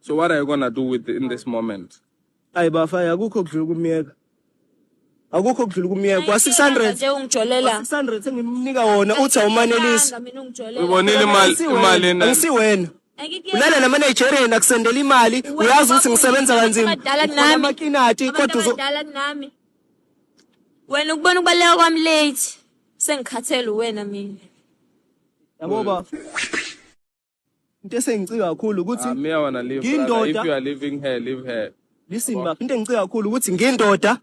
So what are you gonna do with in this moment? Ayi bafaya akukho kudlula ukumyeka. Akukho kudlula ukumyeka. Kwa 600 nje ungijolela 600 engimnika wona uthi awumanelisi. mina ungijolela Ubonile imali imali ena. Angisiwena. Ulala nama Nigerian akusendela imali uyazi ukuthi ngisebenza kanzima. Abadala nami. Amakinati kodwa abantu uzo abadala kunami wena ukubona ukubaleka kwami late sengikhathele uwena mina yabo bafo. into esengicika kakhulu ukuthi Ah, me, I wanna leave. Ngindoda. brother. If you are leaving her, leave her. listen baba into engicika kakhulu ukuthi ngindoda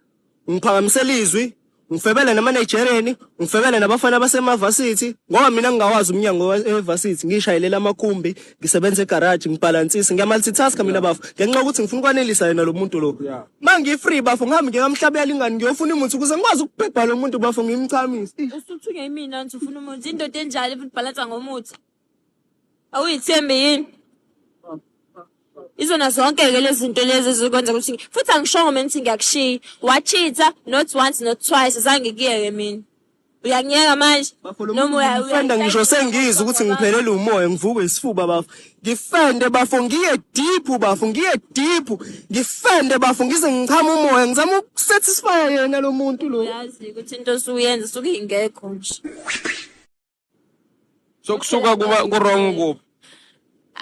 ngiphakamisela izwi ngifebele namanigerian ngifebele nabafana basemavasithi ngoba mina ngingawazi umnyango wa- evasithi ngishayelela amakhumbi ngisebenza egaraji ngibhalansise ngiyamultitaska mina bafo ngenxa yokuthi ngifuna ukwanelisa yena lo muntu lo Yeah. ma ngifree bafo ngihambe ngikamhlabela ingane ngiyofuna umuthi ukuze ngikwazi ukubhebha lo muntu bafo ngimchamise Eish. Usuthunywa imina nje ufuna umuthi. Indoda enjalo futhi bhalansa ngomuthi. awuyithembi yini izona zonke-ke lezi zinto lezi ezikwenza ukuthi futhi angishongo mina ukuthi ngiyakushiya wachitha not once not twice zange kuyeke mina uyangiyeka manje noma ngisho sengizwa ukuthi ngiphelele umoya ngivukwe isifuba bafo ngifende bafo ngiye deep bafo ngiye deep ngifende bafo ngize ngichama umoya ngizama ukusatisfya yena lo muntu lo yazi ukuthi into osuyenza suke ingekho nje so kusuka kuba kurong kuphi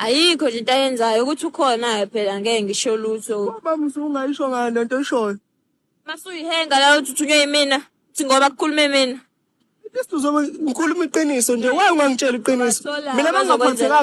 ayikho nje into ayenzayo ukuthi ukhona-ke phela ngeke ngisho lutho baba usungayisho ngani lento oyishoyo masuyihenga la uthi uthunywe yimina uthi ngoba kukhulume mina Istu zobe ngikhuluma iqiniso nje waye ungangitshela iqiniso Basola, mina bengingaphathekanga